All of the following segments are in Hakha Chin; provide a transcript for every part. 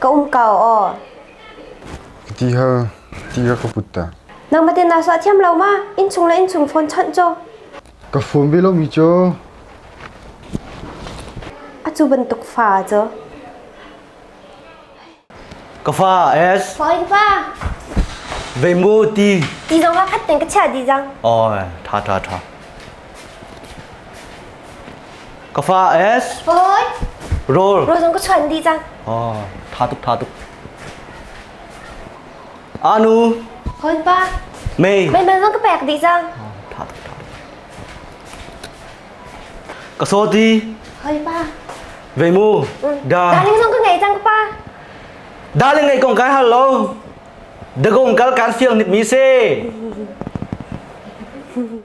ka um ko aw. Ti hal ti hal ka put ta. Nangmah tin na suah thiam lo ma? Inchung le inchung phone chawnh cho. Ka phone ve lo mi cho. Acu bantuk fa cho. Ka fa es. Fa ka fa. Ve mu ti. Ti zong ka khat ten ka chia di jang. Oi, tha tha tha. Ka fa S Fawi roll Roll zong ka chuan dih cang oh tha tuk tha tuk Anu Hon pa Mei Mei man zong ka pek dih cang oh tha tuk tha tuk Ka soti Hon pa Veimu Da Darling zong ka ngei cang pa Darling ngei kong kai hal lo Dagong kal kan siang nip mi se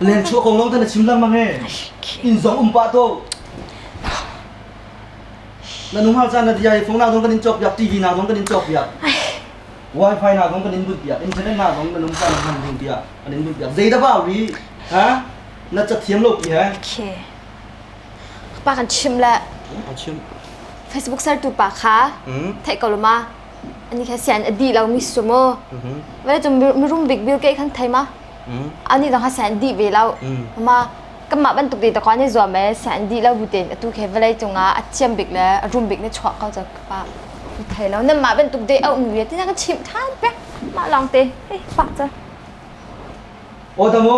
Len chuah kong long tan a chim lengmang e. Inn zong um pah to. Na nung hal caan na dia i phone na zong kan in chok biak TV na zong kan in chok biak. Wifi na zong kan in but biak, internet na zong kan um caan hman ding biak, kan in but biak. Zei da ba ri? Ha? Na ca thiam lo pi he. Okay. Pa kan chim le An chim. Facebook sar tu pa kha Hmm. thei ko ma ani kha sian adi lo mi sumo Mhm. vale tum mirum big bill ke khan thei ma an i dang ha sen dih ve lo ma kanmah bantuk te takwa ni zuam e sen dih lo bu tein atu khe vawlei cungah a thiam bik le a rum bik ni chuak ko cho ka pa thei lo nan mah bantuk te au nu ya tina kan chim than pe mah long te hei pak cha o tamo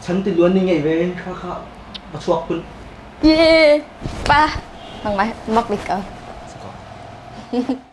chan ti luan ni ngei ve kha kha ba chuak kun ye pa mang mai mak lik ka